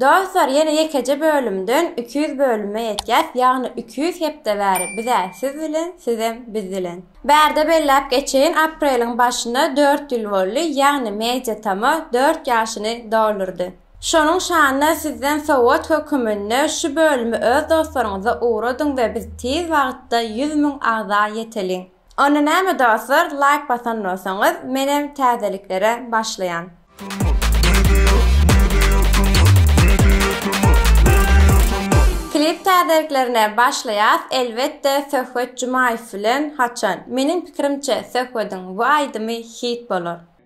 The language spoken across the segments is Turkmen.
Dostlar ýene ýekeje bölümden iki ýüz bölüme ýetýäs ýagny iki ýüz hepde bäri bizä siz bilen sizem biz bilen. Bärde belläp geçeýin apreliň başyna dört ýyl boldy ýagny media tama dört ýaşyny doldurdy. Şonuň şanyna sizden sowgat höküminde şu bölümi öz dostlaryňyza ugradyň we biz tiz wagtda ýüz müň agza ýeteliň. Onda näme dostlar laýk basan bolsaňyz menem täzeliklere başlaýan. Klip täzeliklerine başlaýas elbetde Söhbet Jumaýew bilen haçan. Meniň pikirimçe Söhbediň bu aýdymy hit bolar.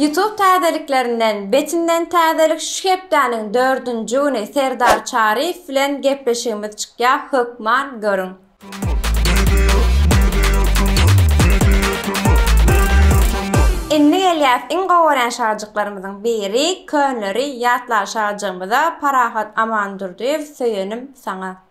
Youtube täzeliklerinden betinden täzelik şu hepdäniň dördünji güni Serdar Çaryýew bilen gepleşigimiz çykýa hökman görüň. Indi gelýäs iň gowy görýän şajyklarymyzyň biri könleri ýatlar şajygymyza Parahat Amandurdyýew söýenim saňa.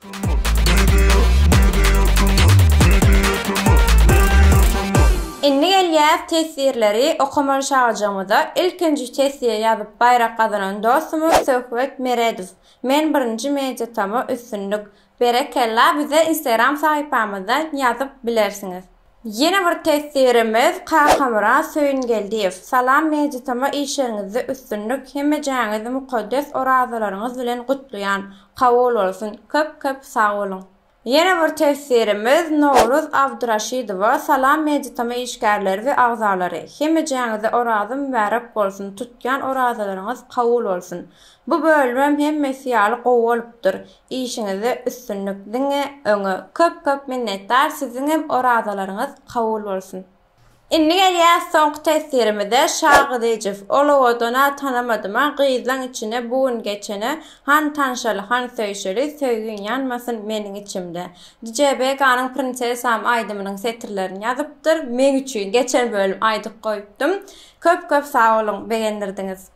Indi gelýäs teswirleri okaman şagyjygymyza ilkinji teswir ýazyp baýrak gazanan dostumyz Söhbet Meredow men birinji mediatama üstünlik berekella bize instagram sahypamyzdan ýazyp bilersiňiz. Ýene bir tesirimiz Kakamyrat Söýüngeldiýew. Salam Mejit Tama işleriňizde üstünlik hemejäňizi mukaddes orazalaryňyz bilen gutlaýan. Kabul bolsun. Köp köp sag boluň. Ýene bir tesirimiz Nowruz Abdyraşidowa Salam Mejit Tama işgärleri we agzalary. Hemejäňize Oraza mübärek bolsun tutýan orazalaryňyz kabul bolsun. Bu bölümem hemmesi ýaly gowy bolupdyr. Işiňizde üstünlik diňe öňe köp köp minnetdar siziňem orazalaryňyz kabul bolsun. Indi gelýäs soňky tesirimize Şagyzyjow ol owadana tanamadyma gyzlaň içine bu gün geçene han tanşaly han söýşeli söýgin ýanmasyn meniň içimde Djbeganyň prinsesam aýdymynyň setirlerini ýazypdyr meň üçin geçen bölüm aýdyp goýupdym köp köp sag boluň begendirdiňiz.